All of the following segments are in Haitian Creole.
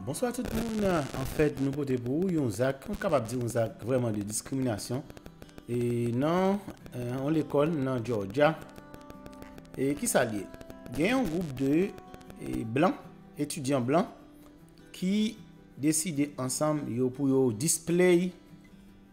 Bonswa tout moun, anfèt nou pote pou ou yon zak, mwen kapab di yon zak vrèman de diskriminasyon e nan yon lekòl nan Georgia. E ki sa liye? Gen yon gwoup de e, blan, etidyan blan ki deside ansanm yo pou yo display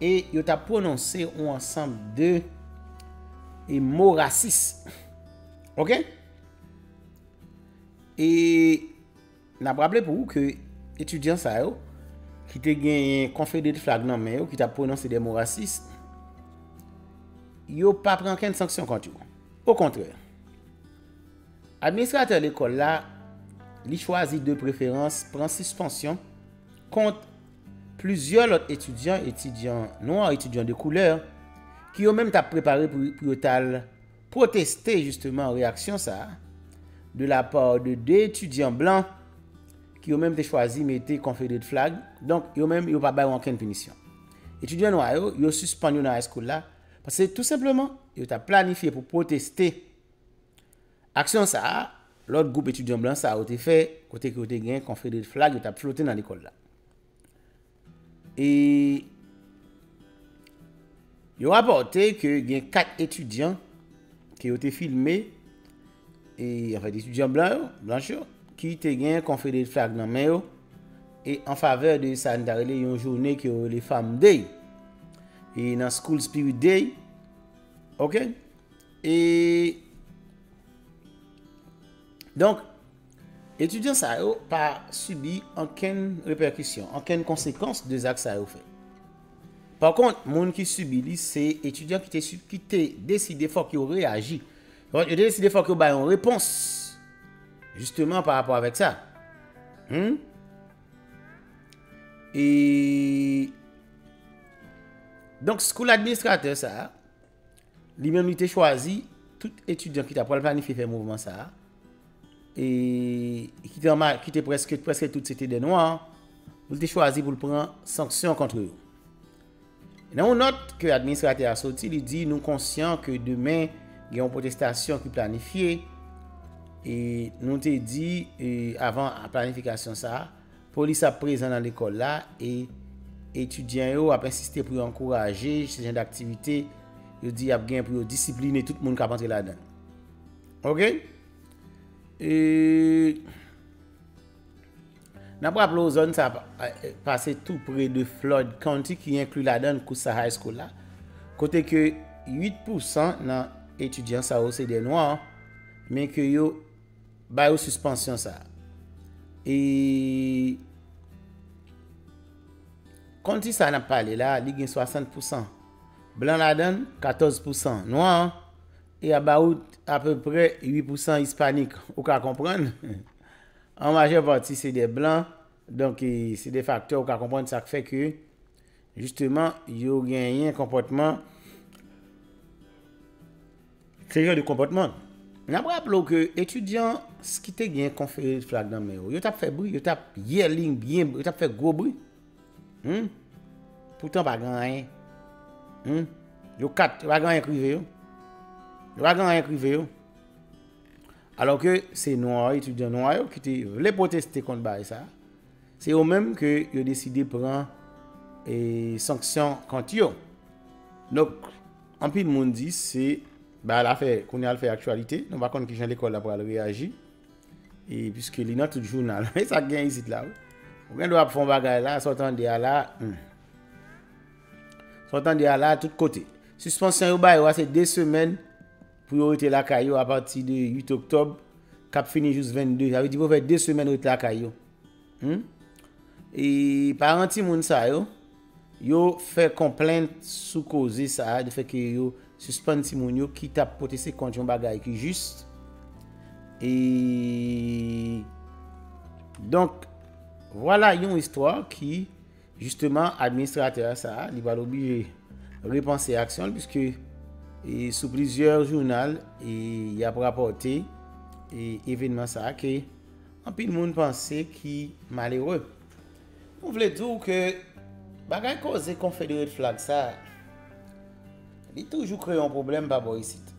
E yo ta pwononse yon ansanm de e mo rasis. Ok? E nan praple pou ou ke etudyan sa yo ki te gen yon konfedere flag nan men yo ki ta pwononse de mo rasis, yo pa pran ken sanksyon kont yo. O kontre, administratè lekòl la li chwazi de preferans pran sispansyon kont Plizyè lòt etidyan, etidyan nwa, etidyan de koulè, ki yo menm tap prepare pou yo tal pwoteste jisteman reyaksyon sa a, de la pa de 2 etidyan blan, ki yo menm te chwazi mete Confederate Flag, donk yo menm yo pa bay ankenn pinisyon. Etidyan nwa yo, yo sispann yo nan high school la, paske tou senpleman, yo tap planifye pou pwoteste. Aksyon sa a, lòt gwoup etidyan blan sa yo te fè kote ke yo te gen Confederate flag yo t ap flote nan lekòl la. E Yo rapòte ke gen 4 etidyan ke yo te filme, e anfèt etidyan blan yo, blanch yo, ki te gen Confederate flag nan men yo, e an favè de sa n ta rele yon joune ke yo rele Fam Day, e nan School Spirit Day, ok. E Donk, etidyan sa yo pa sibi ankenn repèkisyon, ankenn konsekans de zak sa yo fè. Pa kont, moun ki sibi li se etidyan ki te si, ki te deside fòk yo reyaji. Yo te deside fòk yo bay yon repons jisteman pa rapò avèk sa. Hum? E Donk, kou l administratè sa a, Li menm li te chwazi tout etidyan ki ta pral planifye fè mouvman sa a, e ki te anma, ki te prèske, prèske tout se te dè nwa, pou l te chwazi pou l pran sanksyon kontre yo. Nan yon nòt ke administratè a soti, li di nou konsyan ke demen gen yon pwotestasyon ki planifye, e nou te di avan planifikasyon sa a, Polis ap prezan nan lekòl la e etidyan yo ap ensiste pou yo ankouraje se jan daktivite yo di y ap gen pou yo disipline tout moun k ap antre ladan l. Ok? E. N ap raple w zòn sa a pase tou pre de Floyd County ki enkli ladan l Coosa High School la, kote ke 8 pousan nan etidyan sa yo se dè nwa, men ke yo. Ba yo suspansyon sa. E Konti sa nap pale la li gen 60 pousan blan ladann 14 pousan nwa e about apeprè 8 pousan ispanik ou ka konprann an majè pati se de blan donk se de faktè ou ka konprann sak fè ke Jisteman, yo genyen konpòtman. Se jan de konpòtman. N ap raple w ke etidyan ki te gen konferid flag nan men yo, yo t ap fè bri, yo t ap yèling byen, yo t ap fè gwo bri. Poutan pa gen anyen. Yo kat, pa gen anyen k rive yo. Yo pa gen anyen k rive yo. Alò ke se nwa, etidyan nwa yo ki te vle pwoteste kont bagay sa a. Se yo menm ke yo deside pran sanksyon kont yo. Donk, anpil moun di se bagay la fè, kounye a l fè aktyalite. Nou pa konn ki jan lekòl la pral reyaji. E piske li nan tout jounal. E sa k gen isit la wi. Ou gen dwa ap fè yon bagay la, sa w tande a la. Sa w tande a la tout kote. Sispansyon yo bay yo a se 2 semèn pou yo rete lakay yo apati de 8 oktòb k ap fini jous 22. Sa vle di pou yo fè 2 semèn rete lakay yo. Humm e paran timoun sa yo, yo fè konplent sou koze sa a, de fè ke yo sispann timoun yo ki tap pwoteste kont yon bagay ki jis, e donk vwala yon istwa ki jisteman administratè sa a, li pral oblije repanse aksyon l, piske e sou plizyè jounal e yap rapòte e evenman sa a ke. Anpil moun panse ki malere. Nou vle di w ke bagay koze Confederate flag sa, li toujou kreye yon pwoblèm pa bò isit.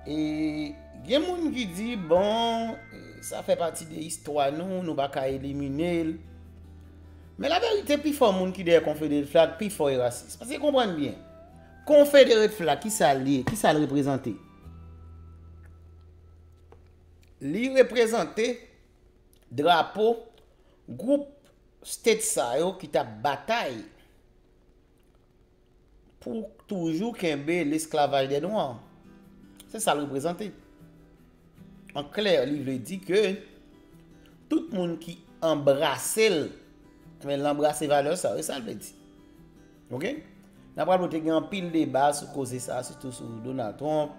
E gen moun ki di bon, sa fè pati de istwa nou, nou pa ka elimine l. Men la verite pi fò moun ki dèyè Confederate flag pi fò e rasis. Paske konprann byen, Confederate flag ki sa l ye, ki sa l reprezante? Li reprezante drapo gwoup state sa yo ki t ap batay pou toujou kenbe lesklavaj dè nwa. Se sa l reprezante. An klè, li vle di ke tout moun ki anbrase l, men l anbrase valè sa yo. Se sa l vle di. Ok Nan pral wè te gen anpil deba sou koze sa sitou sou Donald Trump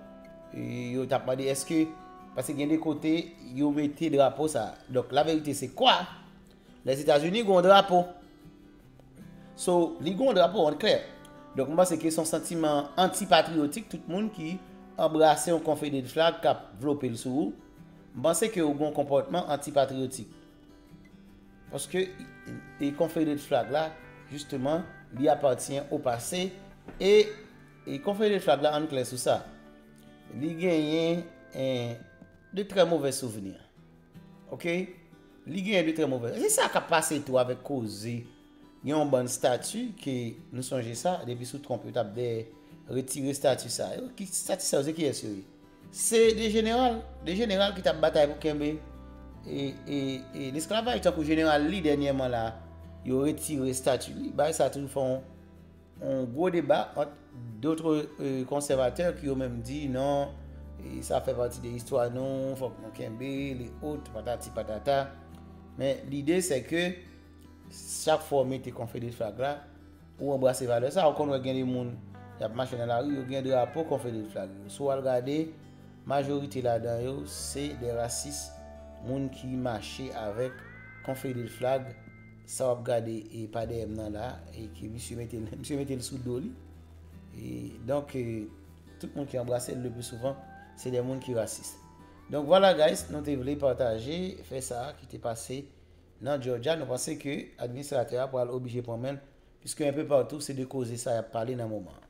yo tap mande eske paske gen de kote yo mete drapo sa donk la verite se kwa les Etats-Unis gon drapo so li gon drapo an klè donk mwen se ke son santiman antipatriotik tout moun ki anbrase yon konfederal flag kap vlopel sou ou mwen se ke ou gon konpòtman antipatriotik Paske e Confederate flag la jisteman li apatyen o pase e e Confederate flag la ann klè sou sa. Li genyen en de trè movè souvni. Ok? Li genyen de trè movè. Se sa k ap pase tou avèk koze. Gen yon bann stati ke nou sonje sa depi sou Trump yo tap dèyè retire stati sa yo. Ki stati sa yo se kiyès yo ye? Se de jeneral, de jeneral ki tap batay pou kenbe e lesklavaj tankou jeneral Lee dènyèman la yo retire stati li. Bagay sa toujou fè yon gwo deba ant dotre konsèvatè ki yo menm di non sa fè pati de istwa nou fòk nou kenbe l e ot patati patata men lide se ke Chak fwa w mete Confedereflag la, ou anbrase valè sa. Ou konn wè gen de moun y ap mache nan lari, yo gen drapo Confedereflag yo. Si w al gade, majorite ladan yo se de rasis, moun ki mache avèk Confedereflag. Sa w ap gade e pa dèyè m nan la, e ke misye mete l, misye mete l sou do li. E donk, tout moun ki anbrase l le pli souvan, se de moun ki rasis. Donk vwala guys, nou te vle pataje fè sa ki te pase. Nan Georgia, nou panse ke administratè a pral oblije pran men l, piske enpe patou se de koze sa y ap pale nan moman an.